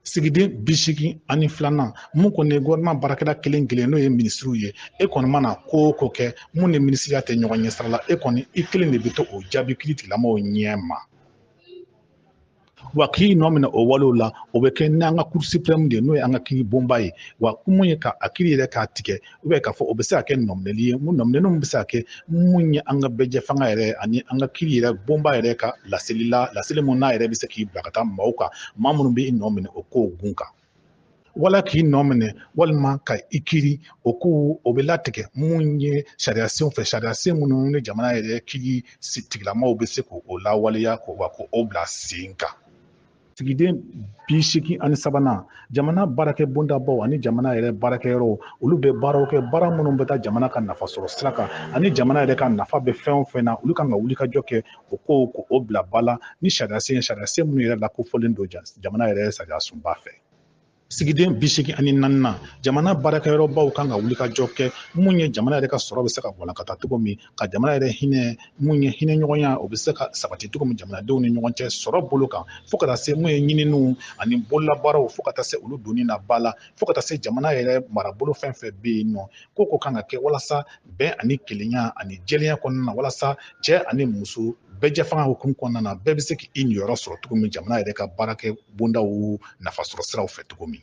sigiden bi seegin ani filanan mun kɔni ye gofɛrɛnaman baarakɛla kelen kelen n'o ye minisiriw ye e kɔni mana ko o ko kɛ mun ni minisiriya tɛ ɲɔgɔn ɲɛ sira la e kɔni i kelen de bɛ to o jaabi kiritigɛlamɔgɔw ɲɛ ma wa k'i nɔ minɛ o walew la o bɛ kɛ n'an ka kuru suprɛmu de ye n'o ye an ka kiri bonba ye wa mun ye ka a kiri yɛrɛ k'a tigɛ ubiyɛn k'a fɔ o bɛ se ka kɛ nɔminɛli ye mun nɔminɛninw bɛ se ka kɛ mun ye an ka bɛɛjɛ fanga yɛrɛ ani an ka kiri yɛrɛ bonba yɛrɛ ka laseli la laseli mun n'a yɛrɛ bɛ se k'i bila ka taa maaw kan maa minnu bɛ i nɔ minɛ o kow kun kan wala k'i nɔ minɛ walima ka i kiri o ko o bɛ latigɛ mun ye sariya senw fɛ sariya sen minnu ni jamana yɛrɛ kiritigɛlamɔgɔw bɛ se k'o lawaleya k'o wa k'o bila sen kan sigiden bi seegin ani sabanan jamana baarakɛ bondabaw ani jamana yɛrɛ baarakɛyɔrɔw olu bɛ baaraw kɛ baara minnu bɛ taa jamana ka nafa sɔrɔ sira kan ani jamana yɛrɛ ka nafa bɛ fɛn o fɛn na olu kan ka wulikajɔ kɛ o kow k'o bila ba la ni sariya sen sariya sen minnu yɛrɛ lakofɔlen don jamana yɛrɛ sariya sunba fɛ sigiden bi seegin ani naaninan jamana baarakɛyɔrɔbaw kan ka wulikajɔ kɛ mun ye jamana yɛrɛ ka sɔrɔ bɛ se ka walankata cogo min ka jamana yɛrɛ hinɛ mun ye hinɛ ɲɔgɔnya o bɛ se ka sabati cogo min jamanadenw ni ɲɔgɔn cɛ sɔrɔ bolo kan fo ka taa se mun ye ɲininiw ani bololabaaraw fo ka taa se olu donni na ba la fo ka taa se jamana yɛrɛ marabolo fɛn fɛn bɛ yen nɔ ko ko kan ka kɛ walasa bɛn ani kelenya ani jɛlenya kɔnɔna na walasa cɛ ani muso bɛɛjɛ fanga hukumu kɔnɔna na bɛɛ bɛ se k'i niyɔrɔ sɔrɔ cogo min jamana yɛrɛ ka baarakɛ bondaw nafasɔrɔ siraw fɛ cogo min